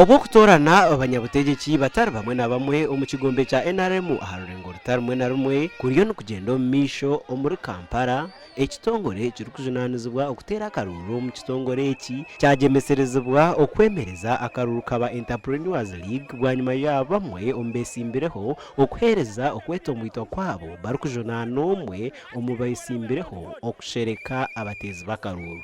Obw'okutoorana abanyabutegyeki batari bamwe na bamwe omu kigombe kya nrm aha rurengo ruta rumwe na rumwe kuriyo nikugyenda omu maisho omuri Kampala, ekitongore ekirikujunaanizibwa okuteera akaruuru omu kitongore eki kyagyemeserezibwa okwemereza akaruuru ka ba Enterpreneurs League bwanyima ya bamwe omu beesimbireho okuheereza okwetomboitwa kwabo barikujunaana omwe omu beesimbireho okushereka abateezi b'akaruuru.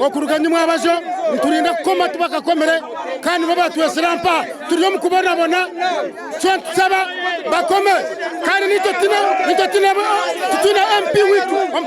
Okuruga ni mwabajo niturinda kukoma tubakakomire kandi nibo batwesire ampa turi omu kubonabona so nitusaba bakome kandi naitwe titwine MP waitu omu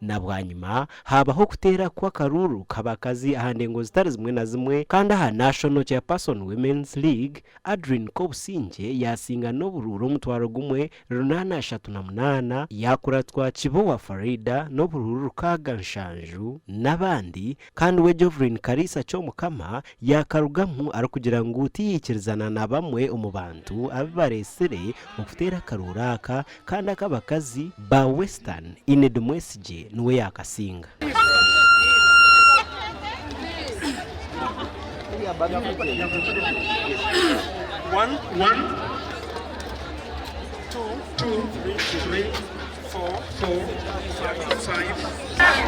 Na bwanyima, haabaho okuteera kw'akaruuru k'abakazi aha ndengo zitari zimwe na zimwe, kandi aha National Chairperson Women's League, Adrine Kobusingye yaasinga n'oburuuru omutwaro gumwe, runaana ashatu na munaana, yaakuratwa Kibowa Faridah n'oburuuru rukaaga nshanju, n'abandi Kandi we Jovrin Karisa Kyomukama yaakarugamu arikugira ngu tiyaikirizana na bamwe omu bantu abu bareetsire okuteera akarooro aka kandi ak'abakazi ba Western Enid Mwesigye niwe yaakasinga.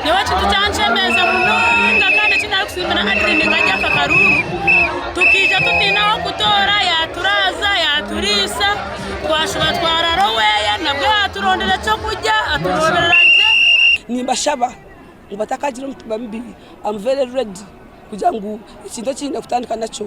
Nyowe ekintu kyankyemeza munonga kandi eki narikusiimira Hardly ni nka Jack Karungu, tukaija tutaine ah'okutoora yaaturaaza, yaaturiisa, twashuba twarara oweeya nabwe yaaturondera eky'okurya, aturooberera gye. Nimbashaba ngu batakagira omutima mubi, am very ready kugira ngu ekintu eki nyine kutandika nakyo.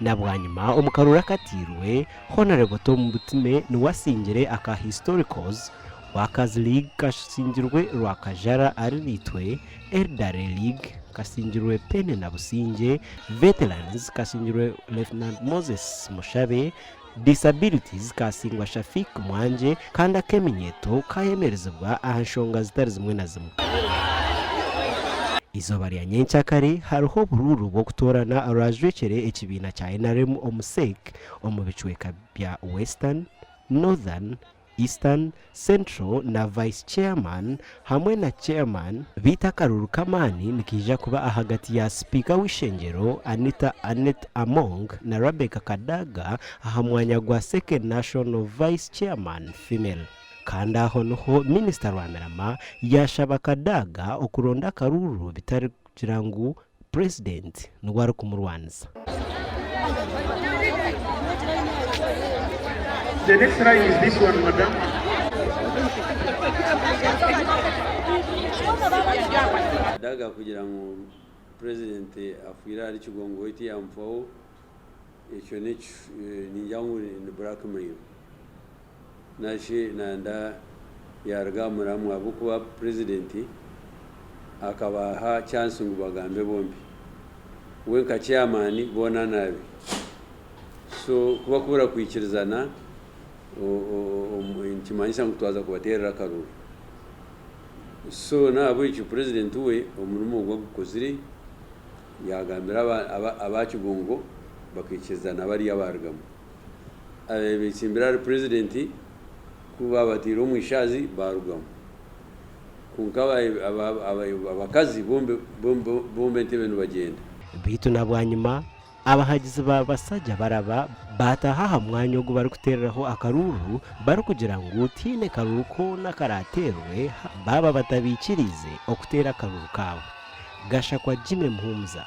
Na bwanyima omu karooro akatairwe, Honourable Tom Butime niwe asingire aka Historicals, Workers League kasingirwe Rwakajara Arinaitwe, Elderly League kasingirwe Penney Nabusingye, Veterans kasingirwe Lieutenant Moses Mushabe, Disability Zikasingwa Shafiq Mwanje kandi ak'eminyeeto kaayemerezibwa aha nshonga zitari zimwe na zimwe. Eizooba rya nyenkya kare hariho oburuuru bw'okutoorana orwaajwekyere ekibiina kya nrm omu Sec omu bicweeka bya Western, Northern, Eastern, Central na Vice Chairman hamwe na Chairman, beitu akaruru k'amaani nikaija kuba ahagati ya Sipiika w'eishengyero Anita Annet Among na Rebecca Kadaga aha mwanya gwa Second National Vice Chairman, Female. Kandi aho niho Minisita Rwamirama yaashaba Kadaga okuronda akaruuru bitari kugira ngu President niwe arikumurwanisa. The next line is this one madam. Kadaga kugira ngu president afwire ahari kigongo we tiyamufaho ekyo ningira ngu ni blackmail. Nashi nanda yaruga aha muramwa ahabw'okuba purezidenti akabaaha chansi ngu bagambe bombi. We nka chairman boona naabi. So ku bakubura kwikirizana nikimanyisa ngu twaza kubateerera akaruru. So n'ahabw'ekyo purezidenti we omurimo ogu agukozire yagambira aba Kigongo bakaikirizana bariya baarugamu. ababaire betsimbire ahari purezidenti ku baabateire omu ishaazi baarugamu. Kwonka abakazi bombwa entebe nibagyenda. Beitu na bwanyima abahagizi ba Basagya baraba baataaha aha mwanya ogu barikuteereraho akaruuru barikugira ngu tihaine karuuru koona akaraateerwe baaba batabaikiriize okuteera akaruuru kaabo. Gashakwa Jimmy Muhumuza.